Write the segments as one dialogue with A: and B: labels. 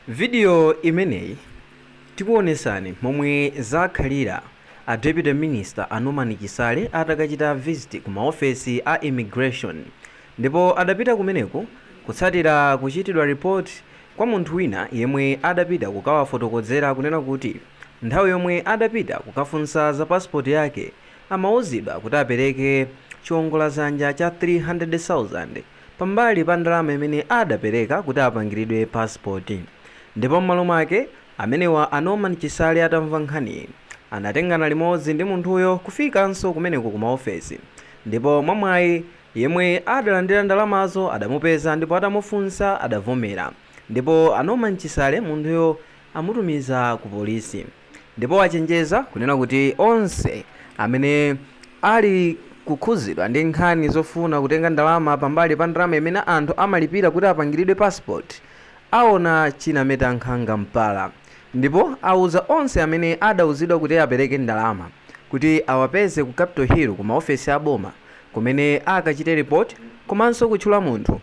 A: Video imeneyi tikuonesani momwe zakhalira a Deputy Minister a Norman Chisale atakachita visit ku ma ofesi a Immigration ndipo adapita kumeneku kutsatira kuchitidwa report kwa munthu wina yemwe adapita kukawafotokodzera kunena kuti nthawi yomwe adapita kukafunsa za passport yake amauzidwa kuti apereke chiongoladzanja cha 300,000 pambali pa ndalama imene adapereka kuti apangiridwe passport ndipo m'malo mwake amenewa a Norman Chisale atamva nkhaniyi anatengana limodzi ndi munthuyo kufikanso kumeneko ku maofesi ndipo mwa mwayi yemwe adalandira ndalamazo adamupeza ndipo atamufunsa adavomera ndipo a Norman Chisale munthuyo amutumiza ku polisi. Ndipo achenjeza kunena kuti onse amene ali kukhuzidwa ndi nkhani zofuna kutenga ndalama pambali pa ndalama imene anthu amalipira kuti apangiridwe passport aona chinameta nkhanga mpala ndipo auza onse amene adauzidwa kuti apereke ndalama kuti awapeze ku Capital Hill ku maofesi a boma kumene akachite report komanso kutchula munthu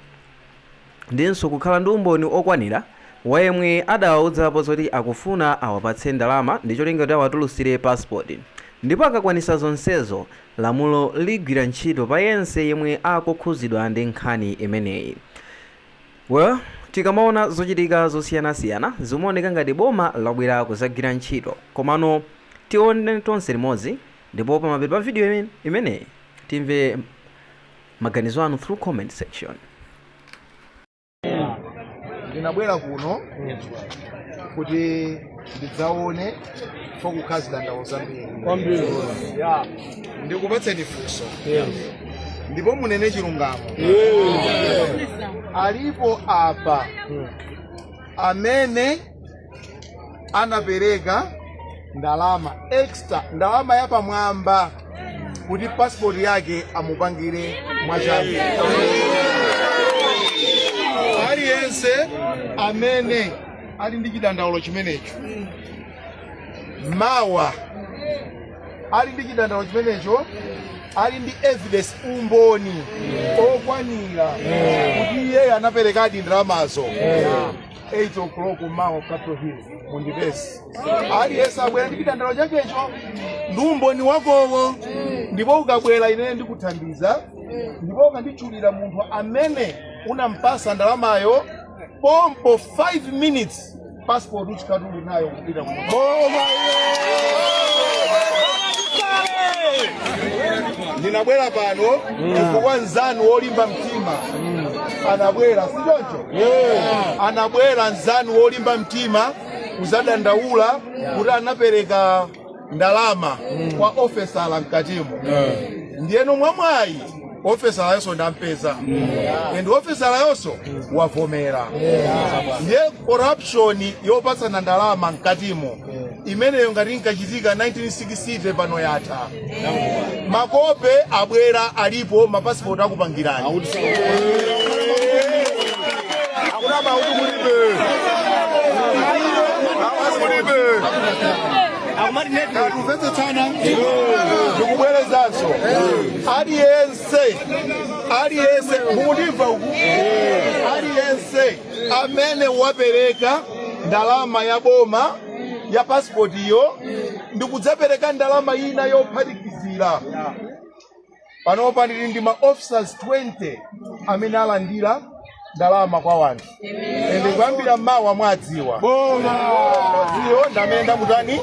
A: ndinso kukhala ndi umboni okwanira wa yemwe adawauzapo zoti akufuna awapatse ndalama ndi cholinga kuti awatulusire passport ndipo akakwanisa zonsezo lamulo ligwira ntchito pa yense yemwe akukhuzidwa ndi nkhani imeneyi well tikamaona zochitika zosiyanasiyana zimaoneka ngati boma labwera kuzagwira ntchito komano tione tonse limodzi ndipo pamapeto pa video imeneyi timve maganizo anu through comment
B: section. ndinabwera kuno kuti ndidzaone pakukhala zidandaulo zambiri Kwambiri. Ya. ndikupatseni funso ndipo munene chilungamo alipo apa amene anapereka ndalama extra ndalama yapamwamba kuti pasipoti yake amupangire mwachangu aliyense amene ali ndi chidandaulo chimenecho mawa ali ndi chidandaulo chimenecho ali ndi evidence umboni okwanira kuti iye anaperekadi ndalamazo 8 o'clock mawa Capital Hill mundipeze. Aliyense abwere ndi chidandaulo chakecho ndi umboni wakowo ndipo ukabwera ine ndikuthandiza ndipo ukanditchulira munthu amene unampasa ndalamayo pompo 5 minutes passport uchikatu ndinabwera pano chifukwa nzanu wolimba mtima anabwera si choncho anabwera nzanu wolimba mtima kuzadandaula kuti anapereka ndalama kwa ofesala mkatimo ndiyeno mwamwayi ofesalayonso ndampeza and ofesalayonso wavomera ndiye corruption yopatsana ndalama mkatimo imeneyo ngati inkachitika 1960 pano yatha makope abwera alipo mapasipoti akupangirani akunama kuti kulibe kuti kulibe akumati nde tumvetsetsana ndikubwerezanso aliyense aliyense mukundimva uku aliyense amene wapereka ndalama ya boma ya pasipotiyo ndikudzapereka ndalama ina yophatikizira panopa ndili ndi ma officers 20 amene alandira ndalama kwa wanthu ende kuyambira mmawa mwadziwa ziwo ndamene ndamutani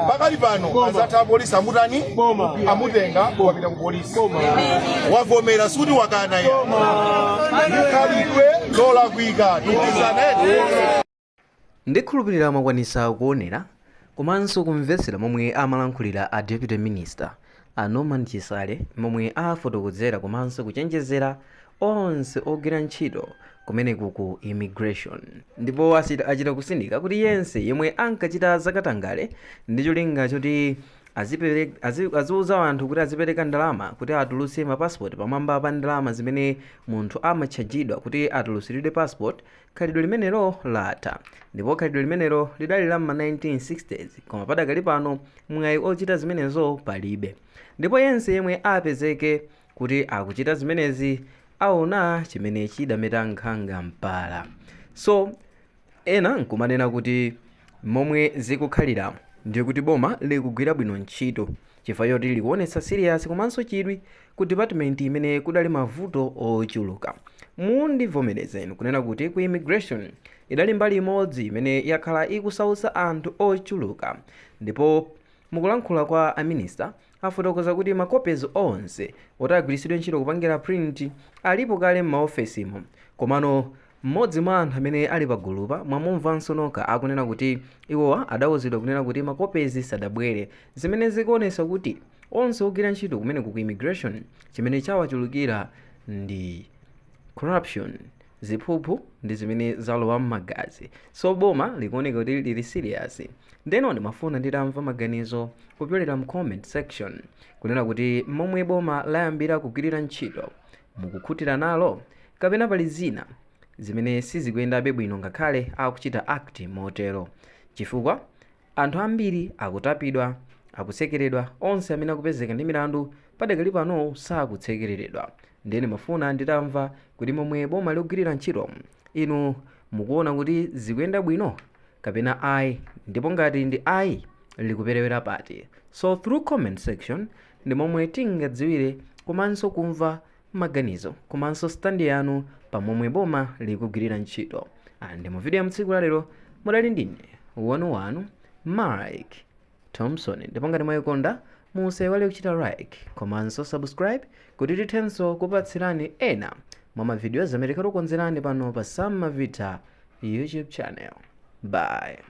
B: pakali pano adzatha apolisi amutani amutenga wapita ku polisi wavomera sikuti wakana ya ndi khalidwe lolakwika tikizanene
A: Ndikhulupirira mwakwanisa kuonera komanso kumvetsera momwe amalankhulira a Deputy Minister a Norman Chisale momwe afotokozera komanso kuchenjezera onse ogwira ntchito kumeneku ku Immigration ndipo achita kusindika kuti yense yemwe ankachita zakatangale ndi cholinga choti aziuza anthu kuti azipereka ndalama kuti atulutse ma passport pamwamba pa ndalama zimene munthu amatchajidwa kuti atulutsiridwe passport Khalidwe limenelo latha, ndipo khalidwe limenelo lidali la m'ma 1960's, koma padakali pano mwayi ochita zimenezo palibe. Ndipo yense yemwe apezeke kuti akuchita zimenezi aona chimene chidameta nkhanga mpala. So, ena nkumanena kuti momwe zikukhaliramu ndiye kuti boma likugwira bwino ntchito. chifukwa choti likuonetsa serious komanso chidwi ku department imene kudali mavuto ochuluka. Mundivomereze inu kunena kuti ku immigration idali mbali imodzi imene yakhala ikusautsa anthu ochuluka ndipo mukulankhula kwa a minister afotokoza kuti ma copies onse oti agwiritsidwe ntchito kupangira print alipo kale m'maofesimo komano Mmodzi mwa anthu amene ali pagulupa mwamumvanso nokha akunena kuti iwowa adauzidwa kunena kuti mapepazi sadabwere zimene zikuonetsa kuti onse ogwira ntchito kumeneku ku immigration chimene chawachulukira ndi corruption, ziphuphu ndi zimene zalowa mmagazi so boma likuoneka kuti lili serious ndeno ndimafuna nditamva maganizo kupyolera mcomment section kunena kuti momwe boma layambira kugwirira ntchito Mukukhutira nalo? Kapena pali zina zimene sizikuyendabe bwino ngakhale akuchita act motero? Chifukwa anthu ambiri akutapidwa, akutsekeredwa, onse amene akupezeka ndi milandu padakali pano sakusekereredwa. Ndeno ndimafuna nditamva kuti momwe boma likugwirira ntchito inu mukuona kuti zikuyenda bwino kapena ayi ndipo ngati ndi ayi likuperewera pati? So through comment section ndi momwe tingadziwire komanso kumva maganizo komanso stand yanu pa momwe boma likugwirira ntchito and mu video ya mtsiku la lero mudali ndine wanu wanu mike thompson ndipo ngati mwayikonda musaiwale kuchita like komanso subscribe kuti tithenso kupatsirani ena mwa mavidiyo amene takukonzerani pano pa sam mavita youtube channel bye